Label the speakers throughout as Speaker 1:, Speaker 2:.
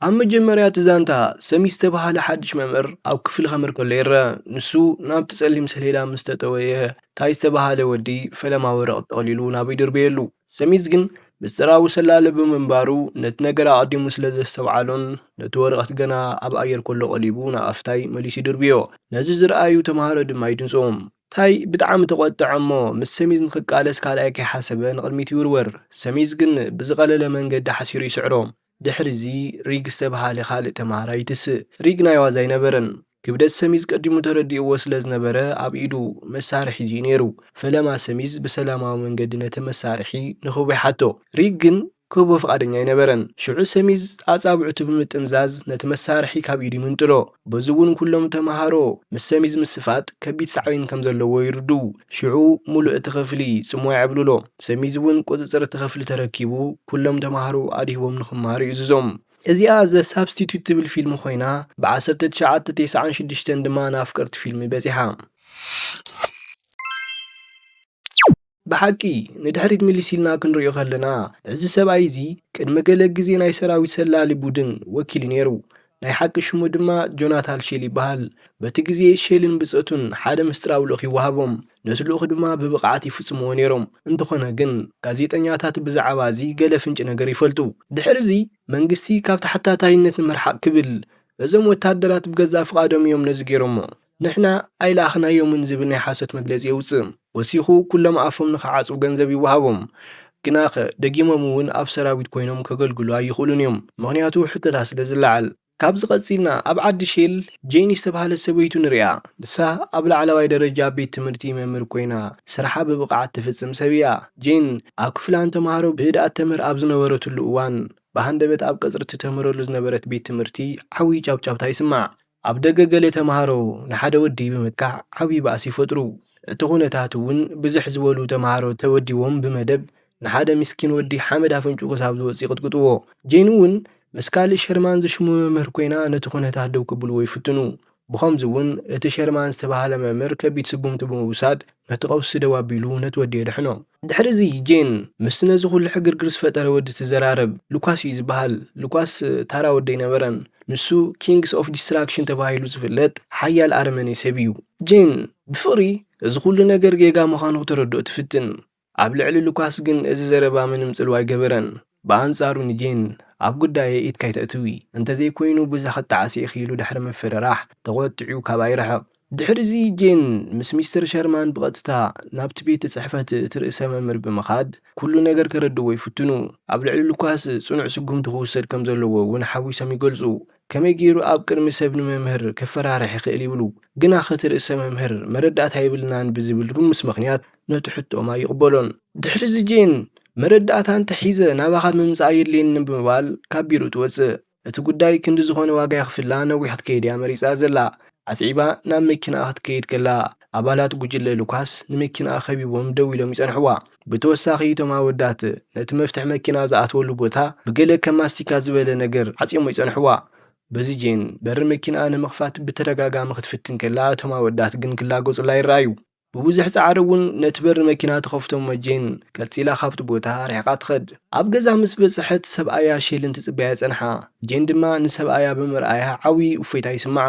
Speaker 1: ኣብ መጀመርያ እቲ ዛንታ፣ ሰሚ ዝተበሃለ ሓድሽ መምህር ኣብ ክፍሊ ከምር ከሎ ይረኣ። ንሱ ናብቲ ጸሊም ሰሌዳ ምስ ተጠወየ፣ ታይ ዝተበሃለ ወዲ ፈለማ ወረቕት ጠቕሊሉ ናብኡ ይድርበየሉ። ሰሚዝ ግን ምስጢራዊ ሰላሊ ብምንባሩ ነቲ ነገር ኣቐዲሙ ስለ ዘስተውዓሎን ነቲ ወረቐት ገና ኣብ ኣየር ከሎ ቀሊቡ ንኣፍ ታይ መሊሱ ይድርብዮ። ነዚ ዝረኣዩ ተመሃሮ ድማ ይድንጽዎም። ታይ ብጣዕሚ ተቖጠዐ እሞ ምስ ሰሚዝ ንኽቃለስ ካልኣይ ከይሓሰበ ንቕድሚት ይውርወር። ሰሚዝ ግን ብዝቐለለ መንገዲ ሓሲሩ ይስዕሮ። ድሕሪ'ዚ ሪግ ዝተብሃለ ካልእ ተማሃራይ ይትስእ። ሪግ ናይ ዋዛ ኣይነበረን። ክብደት ሰሚዝ ቀዲሙ ተረዲእዎ ስለ ዝነበረ ኣብ ኢዱ መሳርሒ ሒዙ'ዩ ነይሩ። ፈለማ ሰሚዝ ብሰላማዊ መንገዲ ነቲ መሳርሒ ንክቡይ ሓቶ። ሪግ ግን ክህቦ ፍቓደኛ ኣይነበረን። ሽዑ ሰሚዝ ኣጻብዕቱ ብምጥምዛዝ ነቲ መሳርሒ ካብ ኢዱ ይምንጥሎ። በዚ'ውን ኩሎም ተመሃሮ ምስ ሰሚዝ ምስፋጥ ከቢድ ሳዕቤን ከም ዘለዎ ይርድኡ። ሽዑ ሙሉእ እቲ ክፍሊ ጽምዋ የዕብልሎ። ሰሚዝ እውን ቁጽጽር እቲ ክፍሊ ተረኪቡ ኩሎም ተመሃሮ ኣድሂቦም ንክመሃሩ ይእዝዞም። እዚኣ The Substitute ትብል ፊልም ኮይና ብ ዓሰርተ ትሽዓተ ቴስዓን ሽዱሽተን ድማ ንኣፍቀርቲ ፊልም በጺሓ። ብሓቂ ንድሕሪት ምልስ ኢልና ክንሪኦ ከለና እዚ ሰብኣይ እዚ ቅድሚ ገለ ግዜ ናይ ሰራዊት ሰላሊ ቡድን ወኪሉ ነይሩ። ናይ ሓቂ ሽሙ ድማ ጆናታል ሼል ይበሃል። በቲ ግዜ ሼልን ብጸቱን ሓደ ምስጢራዊ ልኡኽ ይወሃቦም፣ ነቲ ልኡኽ ድማ ብብቕዓት ይፍጽምዎ ነይሮም። እንተኾነ ግን ጋዜጠኛታት ብዛዕባ እዚ ገለ ፍንጪ ነገር ይፈልጡ። ድሕሪዚ መንግስቲ ካብ ተሓታታይነት ንምርሓቕ ክብል እዞም ወተሃደራት ብገዛእ ፍቓዶም እዮም ነዚ ገይሮሞ። ንሕና ኣይለኣኽናዮምን ዝብል ናይ ሓሶት መግለጺ የውጽእ። ወሲኹ ኩሎም ኣፎም ንኽዓጽው ገንዘብ ይወሃቦም። ግናኸ ደጊሞም እውን ኣብ ሰራዊት ኮይኖም ከገልግሉ ኣይኽእሉን እዮም። ምኽንያቱ ሕቶታት ስለ ዝለዓል። ካብዚ ቀጺልና ኣብ ዓዲ ሼል ጄኒ ዝተባህለት ሰበይቱ ንርኣ። ንሳ ኣብ ላዕለዋይ ደረጃ ቤት ትምህርቲ መምህር ኮይና ስርሓ ብብቕዓት ትፍጽም ሰብ እያ። ጄን ኣብ ክፍላ ንተመሃሮ ብህድኣት ተምህር ኣብ ዝነበረትሉ እዋን ብሃንደበት ኣብ ቀጽሪ እትተምህረሉ ዝነበረት ቤት ትምህርቲ ዓብይ ጫብጫብታ ይስማዕ። ኣብ ደገ ገለ ተምሃሮ ንሓደ ወዲ ብምጥቃዕ ዓብዪ ባእሲ ይፈጥሩ። እቲ ኩነታት እውን ብዝሕ ዝበሉ ተምሃሮ ተወዲቦም ብመደብ ንሓደ ምስኪን ወዲ ሓመድ ኣፍንጭኡ ክሳብ ዝወጽእ ይቕጥቅጥዎ። ጄን እውን ምስ ካልእ ሸርማን ዝሽሙ መምህር ኰይና ነቲ ኩነታት ደው ከብልዎ ይፍትኑ። ብኸምዚ እውን እቲ ሸርማን ዝተባህለ መምህር ከቢድ ስጕምቲ ብምውሳድ ነቲ ቀውሲ ደው ኣቢሉ ነቲ ወዲ የድሕኖ። ድሕሪ እዚ ጄን ምስቲ ነዚ ኩሉ ሕግርግር ዝፈጠረ ወዲ ትዘራረብ፣ ሉካስ እዩ ዝብሃል፣ ሉካስ ታራ ወዲ ኣይነበረን፣ ንሱ ኪንግስ ኦፍ ዲስትራክሽን ተባሂሉ ዝፍለጥ ሓያል ኣረመኔ ሰብ እዩ። ጄን ብፍቕሪ እዚ ኩሉ ነገር ጌጋ ምዃኑ ክተረድኦ ትፍትን፣ ኣብ ልዕሊ ሉካስ ግን እዚ ዘረባ ምንም ጽልዋ ኣይገበረን፣ ብኣንጻሩ ንጄን፣ ኣብ ጉዳየይ ኢድኪ ኣይተእትዊ፣ እንተዘይኮይኑ ብዛ ክትጠዓሲ ኢኺ ኢሉ ድሕሪ ምፍርራሕ፣ ተቖጢዑ ካባይ ርሕቕ። ድሕሪዚ ጄን ምስ ሚስተር ሸርማን ብቐጥታ ናብቲ ቤት ጽሕፈት እቲ ርእሰ መምህር ብምኻድ ኩሉ ነገር ከረድእዎ ይፍትኑ። ኣብ ልዕሊ ሉካስ ጽኑዕ ስጉምቲ ክውሰድ ከም ዘለዎ እውን ሓዊሶም ይገልጹ። ከመይ ገይሩ ኣብ ቅድሚ ሰብ ንመምህር ከፈራርሕ ይኽእል ይብሉ። ግናኸ እቲ ርእሰ መምህር መረዳእታ የብልናን ብዝብል ርሙስ ምኽንያት ነቲ ሕቶኦም ኣይቕበሎን። ድሕሪዚ ጄን፣ መረዳእታ እንተሒዘ ናባኻ ምምጻእ የድልየኒ ብምባል ካብ ቢሮኡ ትወጽእ። እቲ ጉዳይ ክንዲ ዝኾነ ዋጋ የኽፍላ ነዊሕ ክትከይድ እያ መሪጻ ዘላ። ኣስዒባ ናብ መኪናኣ ክትከይድ ከላ፣ ኣባላት ጉጅለ ሉካስ ንመኪናኣ ከቢቦም ደው ኢሎም ይጸንሕዋ። ብተወሳኺ እቶም ኣወዳት ነቲ መፍትሕ መኪና ዝኣትወሉ ቦታ ብገለ ከም ማስቲካ ዝበለ ነገር ዓጽዮሞ ይጸንሕዋ። በዚ ጄን በሪ መኪናኣ ንምኽፋት ብተደጋጋሚ ክትፍትን ከላ እቶም ኣወዳት ግን ክላገጹላ ይረኣዩ። ብብዙሕ ጻዕሪ እውን ነቲ በሪ መኪና ተኸፍቶ እሞ ጄን ቀልጺላ ካብቲ ቦታ ርሒቓ ትኸድ። ኣብ ገዛ ምስ በጽሐት ሰብኣያ ሼልን ትጽበያ ጸንሓ። ጄን ድማ ንሰብኣያ ብምርኣያ ዓብዪ እፎይታ ይስምዓ።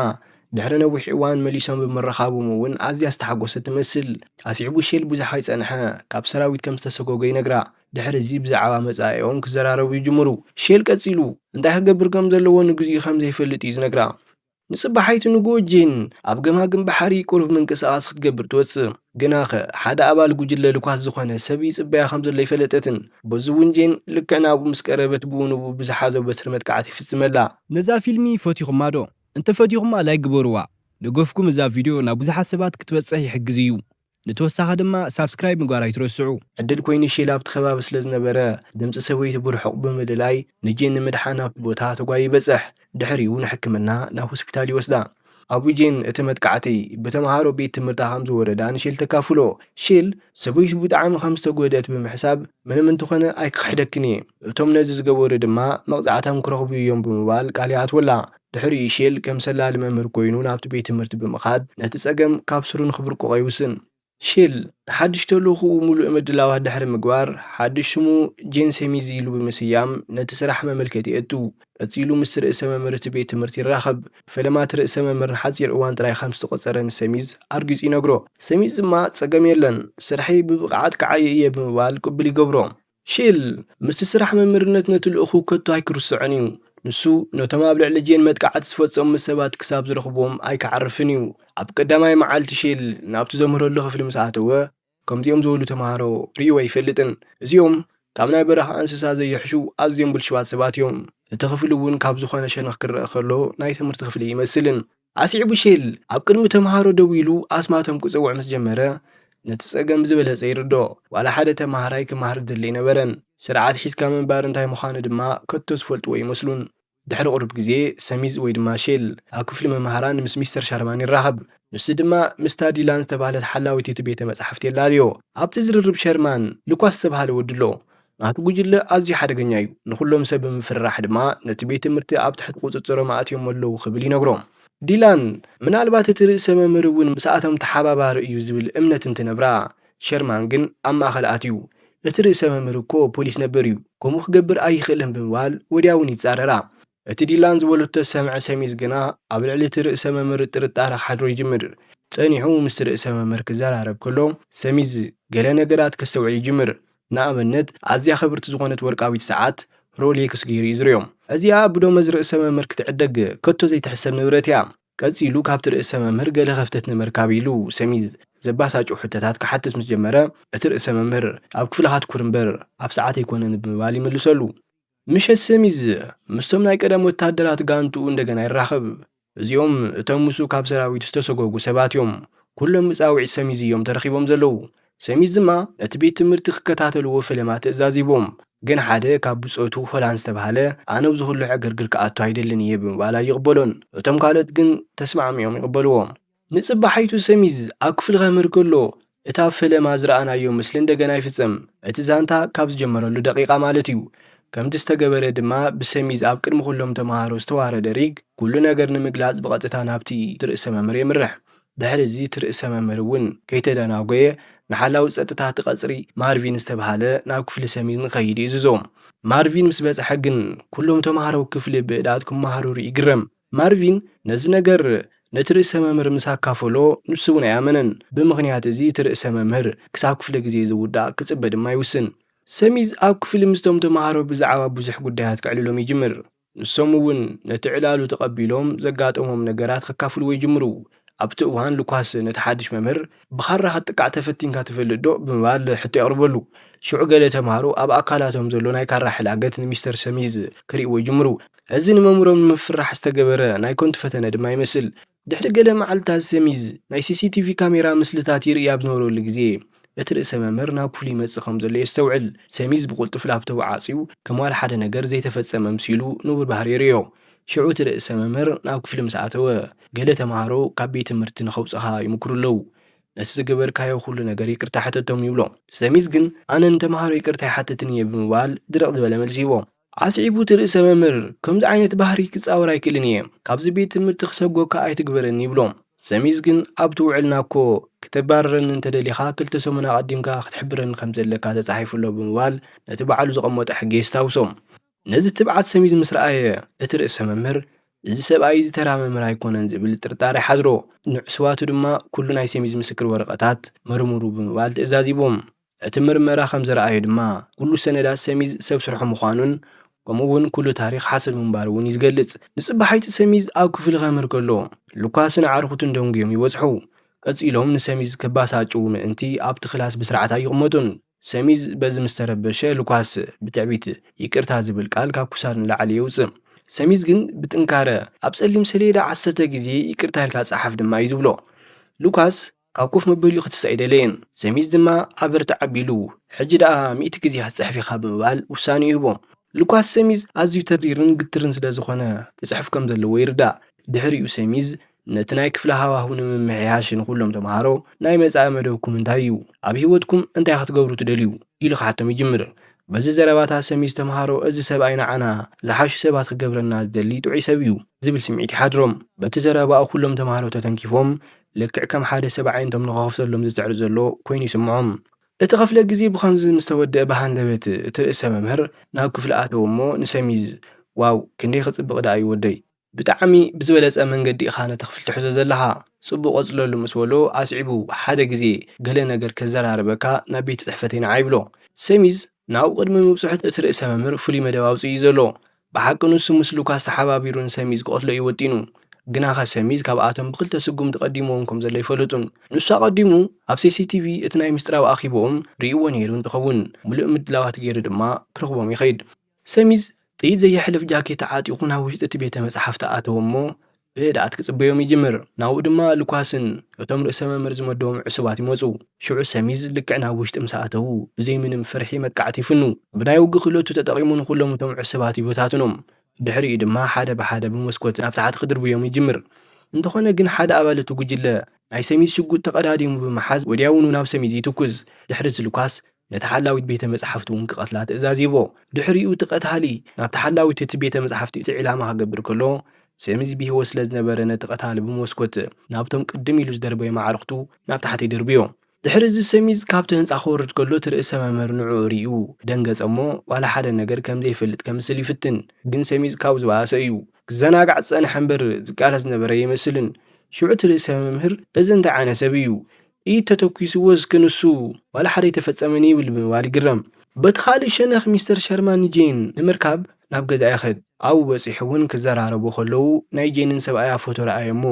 Speaker 1: ድሕሪ ነዊሕ እዋን መሊሶም ብምርኻቦም እውን ኣዝያ ዝተሓጎሰት ትመስል። ኣስዒቡ ሼል ብዙሕ ኣይጸንሐ ካብ ሰራዊት ከም ዝተሰጎገ ይነግራ። ድሕሪ እዚ ብዛዕባ መጻኢኦም ክዘራረቡ ይጅምሩ። ሼል ቀጺሉ እንታይ ክገብር ከም ዘለዎ ንግዚኡ ከም ዘይፈልጥ እዩ ዝነግራ። ንጽባሓይቲ ንግሆ ጄን ኣብ ገማግም ባሕሪ ቁሩብ ምንቅስቓስ ክትገብር ትወጽእ። ግናኸ ሓደ ኣባል ጉጅለ ልኳስ ዝኾነ ሰብ ይጽበያ ከም ዘሎ ኣይፈለጠትን። በዚ'ውን ጄን ልክዕ ናብኡ ምስ ቀረበት ብኡ ንብኡ ብዝሓዞ በትሪ መጥቃዕቲ ይፍጽመላ። ነዛ ፊልሚ
Speaker 2: ፈቲኹማ ዶ? እንተፈቲኹማ ላይክ ግበሩዋ። ደገፍኩም እዛ ቪድዮ ናብ ብዙሓት ሰባት ክትበጽሕ ይሕግዝ እዩ። ንተወሳኺ ድማ ሳብስክራይብ ምግባር ኣይትረስዑ። ዕድል ኮይኑ ሼል
Speaker 1: ኣብቲ ከባቢ ስለ ዝነበረ፣ ድምጺ ሰበይቱ ብርሑቕ ብምልላይ ንጄን ንምድሓን ኣብቲ ቦታ ተጓዩ ይበጽሕ። ድሕሪኡ ንሕክምና ናብ ሆስፒታል ይወስዳ። ኣብኡ ጄን እቲ መጥቃዕቲ ብተመሃሮ ቤት ትምህርታ ከም ዝወረዳ ንሼል ተካፍሎ። ሼል፣ ሰበይቱ ብጣዕሚ ከም ዝተጎድእት ብምሕሳብ፣ ምንም እንተኾነ ኣይክኽሕደክን'የ፣ እቶም ነዚ ዝገበሩ ድማ መቕጻዕቶም ክረኽቡ እዮም ብምባል ቃል ይኣትወላ። ድሕሪኡ ሼል ከም ሰላሊ መምህር ኰይኑ ናብቲ ቤት ትምህርቲ ብምኻድ ነቲ ጸገም ካብ ሱሩ ንኽብርቅቖ ይውስን። ሼል ንሓድሽ ተልእኾኡ ምሉእ ምድላዋት ድሕሪ ምግባር፣ ሓድሽ ስሙ ጄን ሴሚዝ ኢሉ ብምስያም ነቲ ስራሕ መመልከቲ የእቱ። ቀጺሉ ምስቲ ርእሰ መምህር እቲ ቤት ትምህርቲ ይራኸብ። ብፈለማ እቲ ርእሰ መምህር ንሓጺር እዋን ጥራይ ኸም ዝተቖጸረ ንሴሚዝ ኣርጊጹ ይነግሮ። ሴሚዝ ድማ ጸገም የለን፣ ስርሐይ ብብቕዓት ክዓዪ እየ ብምባል ቅቡል ይገብሮ። ሺል ምስቲ ስራሕ መምህርነት ነቲ ልኡኹ ከቶ ኣይክርስዖን እዩ። ንሱ ነቶም ኣብ ልዕሊ ጄን መጥቃዕቲ ዝፈጸሙ ሰባት ክሳብ ዝረኽቦም ኣይክዓርፍን እዩ። ኣብ ቀዳማይ መዓልቲ ሺል ናብቲ ዘምህረሉ ክፍሊ ምስ ኣተወ፣ ከምዚኦም ዝበሉ ተማሃሮ ርእዩ ኣይፈልጥን። እዚኦም ካብ ናይ በረኻ እንስሳ ዘይሕሹ ኣዝዮም ብልሹዋት ሰባት እዮም። እቲ ክፍሊ እውን ካብ ዝኾነ ሸነኽ ክረኣ ከሎ ናይ ትምህርቲ ክፍሊ ኣይመስልን። ኣስዒቡ ሼል ኣብ ቅድሚ ተመሃሮ ደው ኢሉ ኣስማቶም ክጽውዕ ምስ ጀመረ፣ ነቲ ጸገም ብዝበለጸ ይርድኦ። ዋላ ሓደ ተመሃራይ ክመሃር ዝደሊ ኣይነበረን፣ ስርዓት ሒዝካ ምንባር እንታይ ምዃኑ ድማ ከቶ ዝፈልጥዎ ኣይመስሉን። ድሕሪ ቁሩብ ግዜ፣ ሰሚዝ ወይ ድማ ሼል ኣብ ክፍሊ መማህራን ምስ ሚስተር ሻርማን ይራኸብ። ንሱ ድማ ምስታ ዲላን ዝተባህለት ሓላዊት እቲ ቤተ መጻሕፍቲ የላልዮ። ኣብቲ ዝርርብ ሸርማን፣ ሉካስ ዝተባህለ ወዲ ኣሎ፣ ናቱ ጉጅለ ኣዝዩ ሓደገኛ እዩ፣ ንዅሎም ሰብ ብምፍርራሕ ድማ ነቲ ቤት ትምህርቲ ኣብ ትሕቲ ቍጽጽሮም ኣእትዮሞ ኣለዉ ክብል ይነግሮም። ዲላን፣ ምናልባት እቲ ርእሰ መምህር እውን ምስኣቶም ተሓባባሪ እዩ ዝብል እምነት እንትነብራ፣ ሸርማን ግን ኣብ ማእከል ኣትዩ፣ እቲ ርእሰ መምህር እኮ ፖሊስ ነበር እዩ፣ ከምኡ ክገብር ኣይኽእልን ብምባል ወድያውን ይጻረራ። እቲ ዲላን ዝበሎ እተሰምዐ ሰሚዝ ግና፣ ኣብ ልዕሊ እቲ ርእሰ መምህር ጥርጣረ ክሓድሮ ይጅምር። ጸኒሑ ምስቲ ርእሰ መምህር ክዘራረብ ከሎ፣ ሰሚዝ ገለ ነገራት ከስተውዕል ይጅምር። ንኣብነት፣ ኣዝያ ክብርቲ ዝኾነት ወርቃዊት ሰዓት፣ ሮሌክስ፣ ገይሩ እዩ ዝርእዮ። እዚኣ ብደሞዝ ርእሰ መምህር ክትዕደግ ከቶ ዘይትሕሰብ ንብረት እያ። ቀጺሉ ካብቲ ርእሰ መምህር ገለ ከፍተት ንምርካብ ኢሉ፣ ሰሚዝ ዘባሳጩ ሕቶታት ክሓትት ምስ ጀመረ፣ እቲ ርእሰ መምህር፣ ኣብ ክፍልኻ ትኩር እምበር ኣብ ሰዓት ኣይኮነን ብምባል ይምልሰሉ። ምሸት ሰሚዝ ምስቶም ናይ ቀደም ወታደራት ጋንትኡ እንደገና ይራኸብ። እዚኦም እቶም ምስኡ ካብ ሰራዊት ዝተሰጎጉ ሰባት እዮም። ኩሎም ብጻውዒት ሰሚዝ እዮም ተረኺቦም ዘለዉ። ሰሚዝ ድማ ነቲ ቤት ትምህርቲ ክከታተልዎ ፈለማ ትእዛዝ ሂቦም። ግን ሓደ ካብ ብጾቱ ሆላን ዝተባህለ ኣነ ኣብዚ ኩሉ ዕግርግር ክኣቱ ኣይደልን እየ ብምባል ኣይቕበሎን። እቶም ካልኦት ግን ተስማዕሚዖም ይቕበልዎ። ንጽባሒቱ ሰሚዝ ኣብ ክፍሉ ከምህር ከሎ እታ ፈለማ ዝረኣናዮ ምስሊ እንደገና ይፍጸም፣ እቲ ዛንታ ካብ ዝጀመረሉ ደቒቓ ማለት እዩ። ከምቲ ዝተገበረ ድማ ብሰሚዝ ኣብ ቅድሚ ኩሎም ተመሃሮ ዝተዋረደ ሪግ ኩሉ ነገር ንምግላጽ ብቐጥታ ናብቲ እቲ ርእሰ መምህር የምርሕ። ድሕሪ እዚ እቲ ርእሰ መምህር እውን ከይተደናጎየ ንሓላዊ ጸጥታ እቲ ቀጽሪ ማርቪን ዝተብሃለ ናብ ክፍሊ ሰሚዝ ንክኸይድ ይእዝዞ። ማርቪን ምስ በጽሐ ግን ኩሎም ተመሃሮ ክፍሊ ብእዳት ክመሃረሩ ይግረም። ማርቪን ነዚ ነገር ነቲ ርእሰ መምህር ምስ ኣካፈሎ፣ ንሱ እውን ኣይኣመነን። ብምኽንያት እዚ እቲ ርእሰ መምህር ክሳብ ክፍለ ግዜ ዝውዳእ ክጽበ ድማ ይውስን። ሰሚዝ ኣብ ክፍሊ ምስቶም ተመሃሮ ብዛዕባ ብዙሕ ጉዳያት ከዕልሎም ይጅምር፣ ንሶም እውን ነቲ ዕላሉ ተቐቢሎም ዘጋጠሞም ነገራት ከካፍልዎ ይጅምሩ። ኣብቲ እዋን ሉካስ ነቲ ሓድሽ መምህር፣ ብኻራ ክትጥቃዕ ተፈቲንካ ትፈልጥዶ? ብምባል ሕቶ የቕርበሉ። ሽዑ ገለ ተማሃሮ ኣብ ኣካላቶም ዘሎ ናይ ካራ ሕላገት ንሚስተር ሰሚዝ ክርእይዎ ይጅምሩ። እዚ ንመምህሮም ንምፍርራሕ ዝተገበረ ናይ ከንቱ ፈተነ ድማ ይመስል። ድሕሪ ገለ መዓልታት ሰሚዝ ናይ ሲሲቲቪ ካሜራ ምስልታት ይርእይ ኣብ ዝነበረሉ ግዜ፣ እቲ ርእሰ መምህር ናብ ክፍሉ ይመጽእ ከም ዘሎ የስተውዕል። ሰሚዝ ብቕልጡፍ ላፕቶቡ ዓጽዩ፣ ከም ዋላ ሓደ ነገር ዘይተፈጸመ ኣምሲሉ ንቡር ባህሪ የርእዮ። ሽዑ እቲ ርእሰ መምህር ናብ ክፍሊ ምስ ኣተወ፣ ገለ ተመሃሮ ካብ ቤት ትምህርቲ ንኸውጽኻ ይሙኩሩ ኣለዉ። ነቲ ዝገበርካዮ ኩሉ ነገር ይቅርታ ሕተቶም ይብሎ። ሰሚዝ ግን ኣነ ንተመሃሮ ይቅርታ ኣይሓትትን እየ ብምባል ድርቅ ዝበለ መልሲ ይህቦ። ኣስዒቡ እቲ ርእሰ መምህር ከምዚ ዓይነት ባህሪ ክጻወር ኣይክእልን እየ፣ ካብዚ ቤት ትምህርቲ ክሰጎካ ኣይትግበረኒ ይብሎ። ሰሚዝ ግን ኣብቲ ውዕልና እኮ ክተባርረኒ እንተ ደሊኻ ክልተ ሰሙን ኣቀዲምካ ክትሕብረኒ ከም ዘለካ ተጻሒፉ ኣሎ ብምባል ነቲ ባዕሉ ዘቀመጦ ሕጊ የስታውሶ። ነዚ ትብዓት ሰሚዙ ምስ ረኣየ እቲ ርእሰ መምህር እዚ ሰብኣይ እዚ ተራ መምህር ኣይኮነን ዝብል ጥርጣረ ሓድሮ። ንዕሱባቱ ድማ ኩሉ ናይ ሰሚዝ ምስክር ወረቐታት መርምሩ ብምባል ትእዛዝ ሂቦም። እቲ ምርመራ ከም ዘርኣዮ ድማ ኩሉ ሰነዳት ሰሚዝ ሰብ ስርሑ ምዃኑን ከምኡ እውን ኩሉ ታሪኽ ሓሶት ምንባሩ እውን እዩ ዝገልፅ። ንፅባሒቱ ሰሚዝ ኣብ ክፍሊ ከምህር ከሎ ሉካስን ኣዕርኹቱን ደንጉዮም ይበፅሑ። ቀፂሎም ንሰሚዝ ከባሳጭዉ ምእንቲ ኣብቲ ክላስ ብስርዓት ኣይቕመጡን። ሰሚዝ በዚ ምስ ተረበሸ ልኳስ ብትዕቢት ይቅርታ ዝብል ቃል ካብ ክሳድ ንላዕሊ የውጽእ። ሰሚዝ ግን ብጥንካረ ኣብ ጸሊም ሰሌዳ ዓሰርተ ግዜ ይቅርታ ኢልካ ጸሓፍ ድማ እዩ ዝብሎ። ሉካስ ካብ ኮፍ መበሊኡ ክትስእ ኣይደለየን። ሰሚዝ ድማ ኣበርትዕ ኣቢሉ ሕጂ ደኣ ሚእቲ ግዜ ክትጽሕፍ ኢኻ ብምባል ውሳኔ ይህቦ። ሉካስ ሰሚዝ ኣዝዩ ተሪርን ግትርን ስለ ዝዀነ ክጽሕፍ ከም ዘለዎ ይርዳእ። ድሕሪኡ ሰሚዝ ነቲ ናይ ክፍሊ ሃዋህው ንምምሕያሽ ንዅሎም ተመሃሮ፣ ናይ መጻኢ መደብኩም እንታይ እዩ? ኣብ ህይወትኩም እንታይ ክትገብሩ ትደልዩ? ኢሉ ክሓቶም ይጅምር። በዚ ዘረባታት ሰሚዝ ተመሃሮ እዚ ሰብኣይ ንዓና ዝሓሹ ሰባት ክገብረና ዝደሊ ጥዑይ ሰብ እዩ ዝብል ስምዒት ይሓድሮም። በቲ ዘረባኡ ኵሎም ተመሃሮ ተተንኪፎም ልክዕ ከም ሓደ ሰብ ኣዒንቶም ንኽኸፍተሎም ዝጽዕር ዘሎ ኰይኑ ይስምዖም። እቲ ክፍለ ግዜ ብኸምዚ ምስ ተወድኣ ብሃንደበት እቲ ርእሰ መምህር ናብ ክፍሊ ኣተወ እሞ ንሰሚዝ ዋው ክንደይ ክጽብቕ ደኣ እዩ ወደይ፣ ብጣዕሚ ብዝበለጸ መንገዲ ኢኻ ነቲ ክፍሊ ትሕዞ ዘለኻ ጽቡቕ ቀጽለሉ ምስ በሎ ኣስዒቡ ሓደ ግዜ ገለ ነገር ከዘራርበካ ናብ ቤት ጽሕፈተይ ንዓ ይብሎ። ሰሚዝ ናብኡ ቅድሚ ምብጽሑ እቲ ርእሰ መምህር ፍሉይ መደብ ኣውጺኡ እዩ ዘሎ ብሓቂ ንሱ ምስ ሉካስ ተሓባቢሩ ንሰሚዝ ክቐትሎ እዩ ወጢኑ። ግናኸ ሰሚዝ ካብኣቶም ብኽልተ ስጉምቲ ቀዲምዎም ከም ዘሎ ኣይፈለጡን። ንሱ ኣቐዲሙ ኣብ ሲሲቲቪ እቲ ናይ ምስጢራዊ ኣኺቦኦም ርእይዎ ነይሩ እንትኸውን፣ ምሉእ ምድላዋት ገይሩ ድማ ክረኽቦም ይኸይድ። ሰሚዝ ጥይት ዘየሕልፍ ጃኬት ተዓጢቑ ናብ ውሽጢ እቲ ቤተ መጽሓፍቲ ኣተወ እሞ ብህድኣት ክጽበዮም ይጅምር። ናብኡ ድማ ሉካስን እቶም ርእሰ መምህር ዝመደቦም ዕሱባት ይመጹ። ሽዑ ሰሚዝ ልክዕ ናብ ውሽጢ ምስ ኣተዉ፣ ብዘይ ምንም ፍርሒ መጥቃዕቲ ይፍኑ። ብናይ ውግእ ክእለቱ ተጠቒሙ ንኹሎም እቶም ዕሱባት ይበታትኖም። ድሕሪኡ ድማ ሓደ ብሓደ ብመስኮት ናብ ታሕቲ ክድርብዮም ይጅምር። እንተኾነ ግን ሓደ ኣባል እቲ ጉጅለ ናይ ሰሚዝ ሽጉጥ ተቐዳዲሙ ብምሓዝ ወዲያውኑ ናብ ሰሚዝ ይትኩስ። ድሕሪ'ዚ ሉካስ ነቲ ሓላዊት ቤተ መጻሕፍቲ እውን ክቐትላ ትእዛዝ ሂቦ። ድሕሪኡ እቲ ቀታሊ ናብቲ ሓላዊት እቲ ቤተ መጻሕፍቲ እቲ ዒላማ ክገብር ከሎ፣ ሰሚዝ ብህይወት ስለ ዝነበረ ነቲ ቀታሊ ብመስኮት ናብቶም ቅድም ኢሉ ዝደርበዮም ኣዕሩኽቱ ናብ ታሕቲ ደርብዮ። ድሕርዚ ሰሚዝ ካብቲ ህንጻ ክወርድ ከሎ እቲ ርእሰ መምህር ንዕኡ ርእዩ ደንገጸ እሞ ዋላ ሓደ ነገር ከም ዘይፈልጥ ከምስል ይፍትን። ግን ሰሚዝ ካብኡ ዝበኣሰ እዩ። ክዘናጋዕ ዝጸንሐ እምበር ዝቃለስ ዝነበረ ኣይመስልን። ሽዑ እቲ ርእሰ መምህር እዚ እንታይ ዓይነት ሰብ እዩ? ጥይት ተተኲስዎ እስከ ንሱ ዋላ ሓደ ኣይተፈጸመን ይብል ብምባል ይግረም። በቲ ካልእ ሸነኽ ሚስተር ሸርማን ንጄን ንምርካብ ናብ ገዝኣ ይኸድ። ኣብኡ በጺሑ'ውን ክዘራረቡ ከለዉ ናይ ጄንን ሰብኣያ ፎቶ ረኣየ'ሞ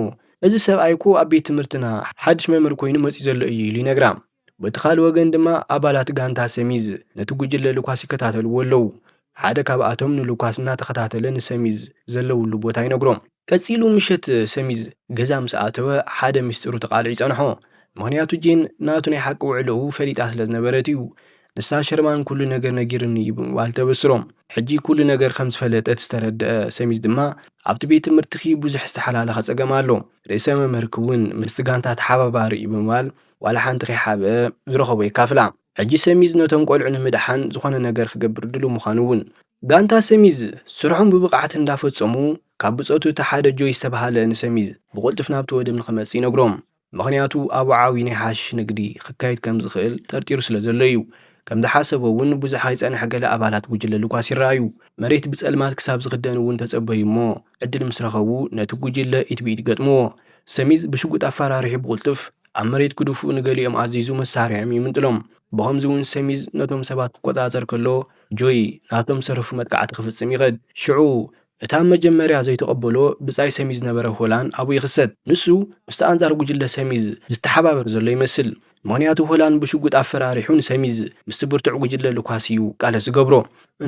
Speaker 1: እዚ ሰብኣይ'ኮ ኣብ ቤት ትምህርትና ሓድሽ መምህር ኰይኑ መጺኡ ዘሎ እዩ ኢሉ ይነግራ። በቲ ካልእ ወገን ድማ ኣባላት ጋንታ ሰሚዝ ነቲ ጕጅለ ልኳስ ይከታተልዎ ኣለዉ። ሓደ ካብኣቶም ንሉካስ እናተኸታተለ ንሰሚዝ ዘለውሉ ቦታ ይነግሮ። ቀጺሉ ምሸት ሰሚዝ ገዛ ምስ ኣተወ ሓደ ምስጢሩ ተቓሊዑ ይጸንሖ። ምኽንያቱ ጄን ናቱ ናይ ሓቂ ውዕሎኡ ፈሊጣ ስለ ዝነበረት እዩ። ንሳ ሸርማን ኩሉ ነገር ነጊሩኒ እዩ ብምባል ተበስሮ። ሕጂ ኩሉ ነገር ከም ዝፈለጠት ዝተረድኣ ሰሚዝ ድማ ኣብቲ ቤት ትምህርትኺ ብዙሕ ዝተሓላለኸ ጸገም ኣሎ። ርእሰ መምህርኪ'ውን ምስቲ ጋንታ ተሓባባሪ እዩ ብምባል ዋላ ሓንቲ ከይሓብአ ዝረኸቦ የካፍላ። ሕጂ ሰሚዝ ነቶም ቆልዑ ንምድሓን ዝኾነ ነገር ክገብር ድሉው ምዃኑ እውን። ጋንታ ሰሚዝ ስርሖም ብብቕዓት እንዳፈጸሙ ካብ ብጾቱ እቲ ሓደ ጆይ ዝተበሃለ ንሰሚዝ ብቕልጡፍ ናብቲ ወደብ ንኽመጽእ ይነግሮም ምኽንያቱ ኣብኡ ዓብይ ናይ ሓሽሽ ንግዲ ክካየድ ከምዝኽእል ጠርጢሩ ስለዘሎ እዩ ከምዝሓሰቦ እውን ብዙሕ ኣይጸንሐ ገለ ኣባላት ጉጅለ ሉካስ ይረኣዩ መሬት ብጸልማት ክሳብ ዝኽደን እውን ተጸበዩ እሞ ዕድል ምስረኸቡ ነቲ ጉጅለ ኢድ ብኢድ ገጥምዎ ሰሚዝ ብሽጉጥ ኣፈራሪሑ ብቕልጡፍ ኣብ መሬት ክድፍኡ ንገሊኦም ኣዚዙ መሳርያኦም ይምንጥሎም። ብኸምዚ እውን ሰሚዝ ነቶም ሰባት ክቆጻጸር ከሎ ጆይ ናብቶም ዝተረፉ መጥቃዕቲ ክፍጽም ይኸድ። ሽዑ እቲ ኣብ መጀመርያ ዘይተቐበሎ ብጻይ ሰሚዝ ዝነበረ ሆላን ኣብኡ ይኽሰት። ንሱ ምስቲ ኣንጻር ጉጅለ ሰሚዝ ዝተሓባበር ዘሎ ይመስል፣ ምኽንያቱ ሆላን ብሽጉጥ ኣፈራሪሑ ንሰሚዝ ምስቲ ብርቱዕ ጉጅለ ሉካስ እዩ ቃለስ ዝገብሮ።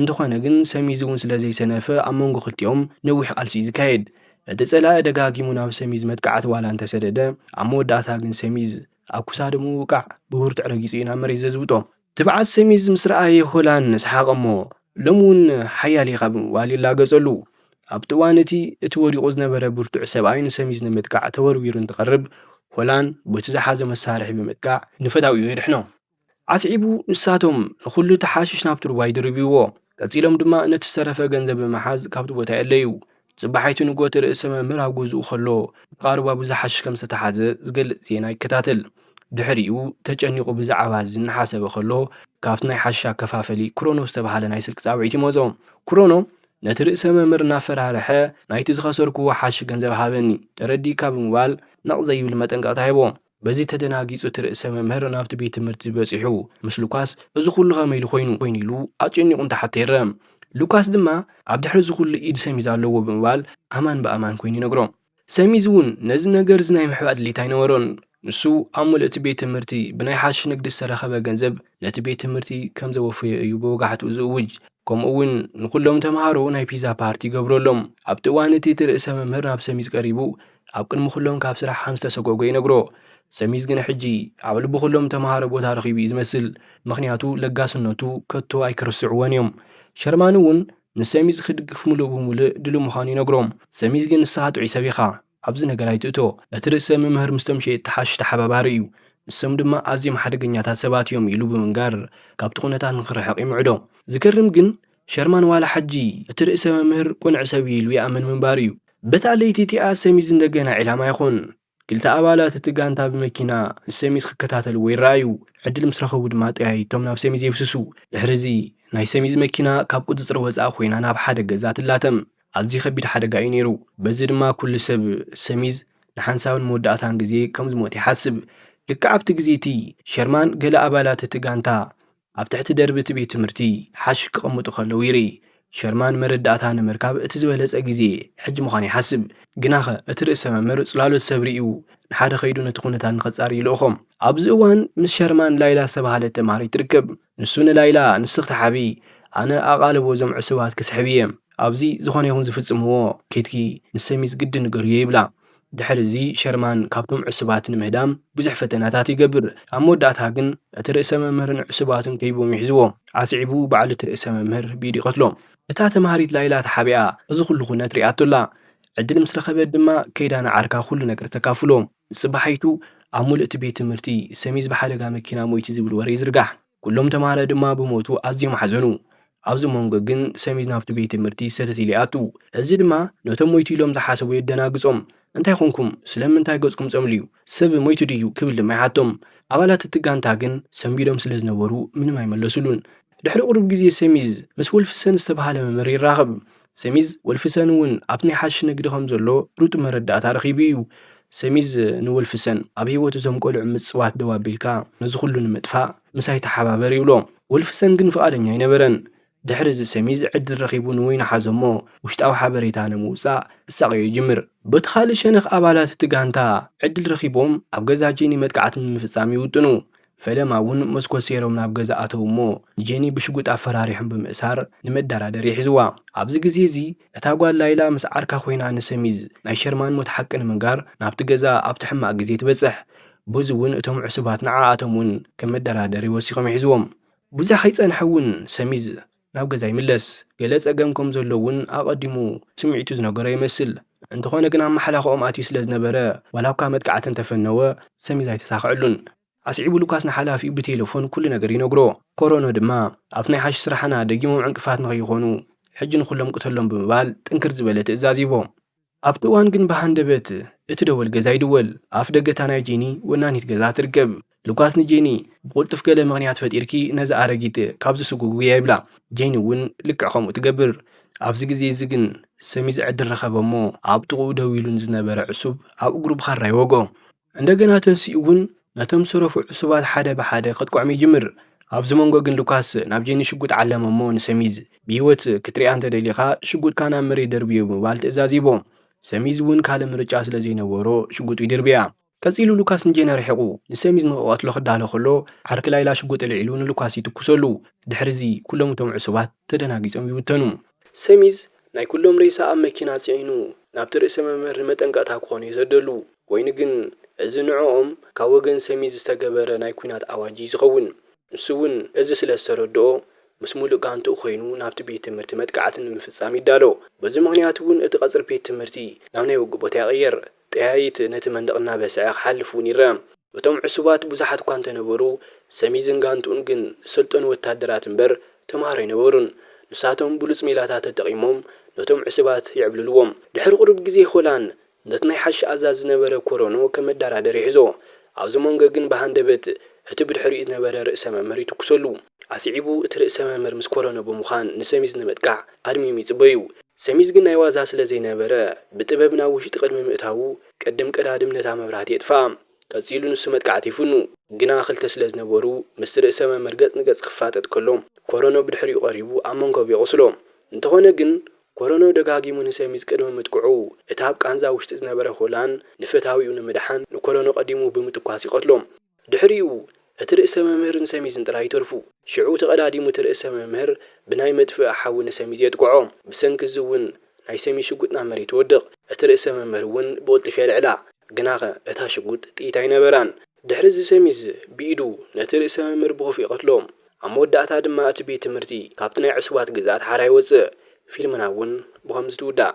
Speaker 1: እንተኾነ ግን ሰሚዝ እውን ስለዘይሰነፈ ኣብ መንጎ ክልቲኦም ነዊሕ ቃልሲ እዩ ዝካየድ። እቲ ጸላኢ ደጋጊሙ ናብ ሰሚዝ መጥቃዕቲ ዋላ እንተሰደደ፣ ኣብ መወዳእታ ግን ሰሚዝ ኣብ ኩሳዱ ምውቃዕ ብብርቱዕ ረጊጹ እዩ ናብ መሬት ዘዝብጦ። ትብዓት ሰሚዝ ምስ ረኣየ ሆላን ሰሓቐ'ሞ፣ ሎሚ እውን ሓያል ኢኻ ብምባል ይላገጸሉ። ኣብቲ እዋን እቲ፣ እቲ ወዲቑ ዝነበረ ብርቱዕ ሰብኣይ ንሰሚዝ ንምጥቃዕ ተወርዊሩ እንትቐርብ፣ ሆላን በቲ ዝሓዞ መሳርሒ ብምጥቃዕ ንፈታዊኡ የድሕኖ። ኣስዒቡ ንሳቶም ንዅሉ እቲ ሓሽሽ ናብቲ ሩባ ይድርብይዎ፣ ቀጺሎም ድማ ነቲ ዝተረፈ ገንዘብ ብምሓዝ ካብቲ ቦታ የእለዩ። ጽባሒቱ ንግሆ እቲ ርእሰ መምህር ኣብ ገዝኡ ኸሎ ጥቓ ሩባ ብዙሕ ሓሽሽ ከም ዝተታሕዘ ዝገልጽ ዜና ይከታተል። ድሕሪኡ ተጨኒቑ ብዛዕባ እዚ እናሓሰበ ኸሎ ካብቲ ናይ ሓሽሽ ኣከፋፈሊ ክሮኖ ዝተባህለ ናይ ስልኪ ጻውዒት ይመጾ። ክሮኖ ነቲ ርእሰ መምህር እናፈራርሐ ናይቲ ዝኸሰርክዎ ሓሽሽ ገንዘብ ሃበኒ ተረዲእካ ብምባል ነቕ ዘይብል መጠንቀቕታ ሂቦ። በዚ ተደናጊጹ እቲ ርእሰ መምህር ናብቲ ቤት ትምህርቲ በጺሑ ምስ ሉካስ እዚ ኩሉ ከመይ ኢሉ ኮይኑ ኮይኑ ኢሉ ኣጨኒቑ እንተሓቶ ይርም። ሉካስ ድማ ኣብ ድሕሪ እዚ ኩሉ ኢድ ሰሚዝ ኣለዎ ብምባል ኣማን ብኣማን ኮይኑ ይነግሮም። ሰሚዝ እውን ነዚ ነገር እዚ ናይ ምሕባእ ድሌት ኣይነበሮን። ንሱ ኣብ ምሉእ'ቲ ቤት ትምህርቲ ብናይ ሓሽሽ ንግዲ ዝተረኸበ ገንዘብ ነቲ ቤት ትምህርቲ ከም ዘወፈዮ እዩ ብወጋሕትኡ ዝእውጅ። ከምኡ እውን ንኹሎም ተመሃሮ ናይ ፒዛ ፓርቲ ይገብረሎም። ኣብቲ እዋን እቲ እቲ ርእሰ መምህር ናብ ሰሚዝ ቀሪቡ ኣብ ቅድሚ ኩሎም ካብ ስራሕ ከም ዝተሰጎጎ ይነግሮ። ሰሚዝ ግና ሕጂ ኣብ ልቢ ኩሎም ተመሃሮ ቦታ ረኺቡ እዩ ዝመስል፣ ምኽንያቱ ለጋስነቱ ከቶ ኣይክርስዕዎን እዮም። ሸርማን እውን ንሰሚዝ ክድግፍ ምሉእ ብምሉእ ድሉው ምዃኑ ይነግሮም። ሰሚዝ ግን ንስኻ ጥዑይ ሰብ ኢኻ፣ ኣብዚ ነገር ኣይትእቶ። እቲ ርእሰ ምምህር ምስቶም ሸየጥቲ ሓሽሽ ተሓባባሪ እዩ፣ ንሶም ድማ ኣዝዮም ሓደገኛታት ሰባት እዮም ኢሉ ብምንጋር ካብቲ ኩነታት ንኽርሕቕ ይምዕዶ። ዝገርም ግን ሸርማን ዋላ ሐጂ እቲ ርእሰ መምህር ቁንዕ ሰብ እዩ ኢሉ ይኣምን ምንባሩ እዩ። በታ ለይቲ እቲኣ ሰሚዝ እንደገና ዒላማ ይኾን። ክልተ ኣባላት እቲ ጋንታ ብመኪና ንሰሚዝ ክከታተልዎ ይረኣዩ። ዕድል ምስ ረኸቡ ድማ ጠያይቶም ናብ ሰሚዝ የብስሱ። ድሕሪ እዚ ናይ ሰሚዝ መኪና ካብ ቁጽጽር ወጻኢ ኮይና ናብ ሓደ ገዛ ትላተም። ኣዝዩ ከቢድ ሓደጋ እዩ ነይሩ። በዚ ድማ ኩሉ ሰብ ሰሚዝ ንሓንሳብን መወዳእታን ግዜ ከም ዝሞተ ይሓስብ። ልክዕ ኣብቲ ግዜ እቲ ሸርማን ገለ ኣባላት እቲ ጋንታ ኣብ ትሕቲ ደርቢ እቲ ቤት ትምህርቲ ሓሽሽ ክቕምጡ ከለዉ ይርኢ። ሸርማን መረዳእታ ንምርካብ እቲ ዝበለጸ ግዜ ሕጂ ምዃኑ ይሓስብ። ግናኸ እቲ ርእሰ መምህር ጽላሎት ሰብ ርእዩ ንሓደ ከይዱ ነቲ ኵነታት ንኸጻሪ ይልእኾም። ኣብዚ እዋን ምስ ሸርማን ላይላ ዝተባህለት ተማሃሪት ትርከብ። ንሱ ንላይላ ንሲ ክትሓብዪ ኣነ ኣቓልቦ እዞም ዕሱባት ክስሕብ እየ። ኣብዚ ዝዀነ ይኹን ዝፍጽምዎ ኬድኪ ንሰሚዝ ግድን ንገርዮ ይብላ። ድሕርዚ ሸርማን ካብቶም ዕሱባት ንምህዳም ብዙሕ ፈተነታት ይገብር፣ ኣብ መወዳእታ ግን እቲ ርእሰ መምህርን ዕሱባቱን ከቢቦም ይሕዝዎም። ኣስዒቡ ባዕሉ እቲ ርእሰ መምህር ብኢዱ ይቐትሎም። እታ ተማሃሪት ላይላ ተሓቢኣ እዚ ኹሉ ኩነት ሪኣቶ ኣላ። ዕድል ምስ ረኸበት ድማ ከይዳ ንዓርካ ኩሉ ነገር ተካፍሎ። ንጽባሒቱ ኣብ ሙሉእ እቲ ቤት ትምህርቲ ሰሚዝ ብሓደጋ መኪና ሞይቱ ዝብል ወረ ይዝርጋሕ። ኩሎም ተማሃረ ድማ ብሞቱ ኣዝዮም ሓዘኑ። ኣብዚ መንጎ ግን ሰሚዝ ናብቲ ቤት ትምህርቲ ሰተት ኢሉ ይኣቱ። እዚ ድማ ነቶም ሞይቱ ኢሎም ዝሓሰቡ የደናግጾም። እንታይ ኰንኩም? ስለምንታይ ገጽኩም ጸምልዩ? ሰብ ሞይቱ ድዩ? ክብል ድማ ይሓቶም። ኣባላት እቲ ጋንታ ግን ሰንቢዶም ስለ ዝነበሩ ምንም ኣይመለሱሉን። ድሕሪ ቁሩብ ግዜ ሰሚዝ ምስ ዉልፍሰን ዝተባህለ መምህር ይራኸብ። ሰሚዝ ወልፍሰን እውን ኣብቲ ናይ ሓሽሽ ንግዲ ከም ዘሎ ርጡብ መረዳእታ ረኺቡ እዩ። ሰሚዝ ንወልፍሰን፣ ኣብ ህይወት እዞም ቈልዑ ምጽዋት ደው ኣቢልካ፣ ነዚ ዅሉ ንምጥፋእ ምሳይ ተሓባበር ይብሎ። ወልፍሰን ግን ፍቓደኛ ኣይነበረን። ድሕሪ እዚ ሰሚዝ ዕድል ረኺቡ ንወይኒ ሓዞ እሞ ውሽጣዊ ሓበሬታ ንምውጻእ ክሳቐዮ ይጅምር። በቲ ኻልእ ሸነኽ ኣባላት እቲ ጋንታ ዕድል ረኺቦም ኣብ ገዛ ጄኒ መጥቃዕቲ ንምፍጻም ይውጥኑ። ፈለማ እውን መስኮት ሰይሮም ናብ ገዛ ኣተዉ እሞ ንጄኒ ብሽጉጥ ኣፈራሪሖም ብምእሳር ንመደራደሪ ሒዝዋ። ኣብዚ ግዜ እዚ እታ ጓል ላይላ ምስ ዓርካ ኮይና ንሰሚዝ ናይ ሸርማን ሞት ሓቂ ንምንጋር ናብቲ ገዛ ኣብቲ ሕማቕ ግዜ ትበጽሕ። ቡዝ እውን እቶም ዕሱባት ንዓኣቶም እውን ከም መደራደሪ ወሲኾም ይሕዝዎም። ብዙሕ ከይጸንሐ እውን ሰሚዝ ናብ ገዛ ይምለስ። ገለ ጸገም ከም ዘሎ እውን ኣቐዲሙ ስምዒቱ ዝነገሮ ይመስል። እንተኾነ ግን ኣብ ማሕላኽኦም ኣትዩ ስለ ዝነበረ፣ ዋላኳ መጥቃዕቲ እንተፈነወ፣ ሰሚዝ ኣይተሳኸዐሉን። ኣስዒቡ ሉካስ ንሓላፊኡ ብቴለፎን ኩሉ ነገር ይነግሮ። ኮሮኖ ድማ፣ ኣብቲ ናይ ሓሽሽ ስራሕና ደጊሞም ዕንቅፋት ንኸይኾኑ፣ ሕጂ ንኹሎም ቅተሎም ብምባል ጥንክር ዝበለ ትእዛዝ ይህቦም። ኣብቲ እዋን ግን ብሃንደበት እቲ ደወል ገዛ ይድወል። ኣፍ ደገ እታ ናይ ጄኒ ወናኒት ገዛ ትርከብ ሉካስ ንጄኒ ብቕልጡፍ ገለ ምኽንያት ፈጢርኪ ነዛ ኣረጊት ካብዚ ስጉጉያ ይብላ። ጄኒ እውን ልክዕ ከምኡ ትገብር። ኣብዚ ግዜ እዚ ግን ሰሚዝ ዕድል ረኸበ እሞ ኣብ ጥቕኡ ደው ኢሉ ንዝነበረ ዕሱብ ኣብ እግሩ ብኻራ ይወግኦ። እንደገና ተንሲኡ'ውን ነቶም ዝተረፉ ዕሱባት ሓደ ብሓደ ከጥቅዖም ይጅምር። ኣብዚ መንጎ ግን ሉካስ ናብ ጄኒ ሽጉጥ ዓለመ'ሞ ንሰሚዝ፣ ብህይወት ክትርእያ እንተ ደሊኻ፣ ሽጉጥካ ናብ መሬት ደርብዮ ብምባል ትእዛዝ ሂቦ። ሰሚዝ'ውን ካልእ ምርጫ ስለ ዘይነበሮ ሽጉጡ ይድርብያ። ቀጺሉ ሉካስ ንጄኒ ኣርሒቑ ንሰሚዝ ንኽቐትሎ ክዳሎ ከሎ፣ ዓርኪ ላይላ ሽጉጥ ኣልዒሉ ንሉካስ ይትኩሰሉ። ድሕሪ'ዚ ኩሎም እቶም ዕሱባት ተደናጊጾም ይብተኑ። ሰሚዝ ናይ ኩሎም ሬሳ ኣብ መኪና ጽዒኑ ናብቲ ርእሰ መምህር ንመጠንቀቕታ ክኾን'ዩ ዘደሉ። ኮይኑ ግን እዚ ንዕኦም ካብ ወገን ሰሚዝ ዝተገበረ ናይ ኲናት ኣዋጅ'ዩ ዝኸውን። ንሱ'ውን እዚ ስለ ዝተረድኦ ምስ ምሉእ ጋንትኡ ኮይኑ ናብቲ ቤት ትምህርቲ መጥቃዕቲ ንምፍጻም ይዳሎ። በዚ ምኽንያት'ውን እቲ ቀጽሪ ቤት ትምህርቲ ናብ ናይ ውግእ ቦታ ይቕየር። ጠያይት ነቲ መንደቕ እናበስዐ ክሓልፍ እውን ይርኣ። እቶም ዕሱባት ብዙሓት እኳ እንተ ነበሩ፣ ሰሚዝን ጋንትኡን ግን ዝሰልጠኑ ወተሃደራት እምበር ተማሃሮ ኣይነበሩን። ንሳቶም ብሉጽ ሜላታት ተጠቒሞም ነቶም ዕሱባት ይዕብልልዎም። ድሕሪ ቁሩብ ግዜ ሆላን ነቲ ናይ ሓሺሽ ኣዛዚ ዝነበረ ኮሮኖ ከም መደራደሪ ይሕዞ። ኣብዚ መንጎ ግን ብሃንደበት እቲ ብድሕሪኡ ዝነበረ ርእሰ መምህር ይትኩሰሉ። ኣስዒቡ እቲ ርእሰ መምህር ምስ ኮረኖ ብምዃን ንሰሚዝ ንምጥቃዕ ኣድሚዮም ይጽበዩ። ሰሚዝ ግን ናይ ዋዛ ስለ ዘይነበረ ብጥበብ ናብ ውሽጢ ቅድሚ ምእታዉ ቅድም ቀዳድም ነታ መብራህቲ የጥፍኣ። ቀጺሉ ንሱ መጥቃዕቲ ይፍኑ። ግና ክልተ ስለ ዝነበሩ ምስቲ ርእሰ መምህር ገጽ ንገጽ ክፋጠጥ ከሎ ኮረኖ ብድሕሪኡ ቀሪቡ ኣብ መንኮብ የቑስሎ። እንተኾነ ግን ኮረኖ ደጋጊሙ ንሰሚዝ ቅድሚ ምጥቅዑ እቲ ኣብ ቃንዛ ውሽጢ ዝነበረ ሆላን ንፈታዊኡ ንምድሓን ንኮረኖ ቀዲሙ ብምትኳስ ይቐትሎ። ድሕሪኡ እቲ ርእሰ መምህርን ሰሚዝን ጥራይ ይተርፉ። ሽዑ ተቐዳዲሙ እቲ ርእሰ መምህር ብናይ መጥፍኢ ሓዊ ንሰሚዝ የጥቅዖ። ብሰንኪ እዚ እውን ናይ ሰሚዝ ሽጉጥ ናብ መሬት ትወድቕ። እቲ ርእሰ መምህር እውን ብቕልጡፍ የልዕላ። ግናኸ እታ ሽጉጥ ጥይት ኣይነበራን። ድሕሪ እዚ ሰሚዝ ብኢዱ ነቲ ርእሰ መምህር ብኹፍኢ ይቐትሎ። ኣብ መወዳእታ ድማ እቲ ቤት ትምህርቲ ካብቲ ናይ ዕሱባት ግዝኣት ሓራ ይወጽእ። ፊልምና እውን ብኸምዚ ትውዳእ።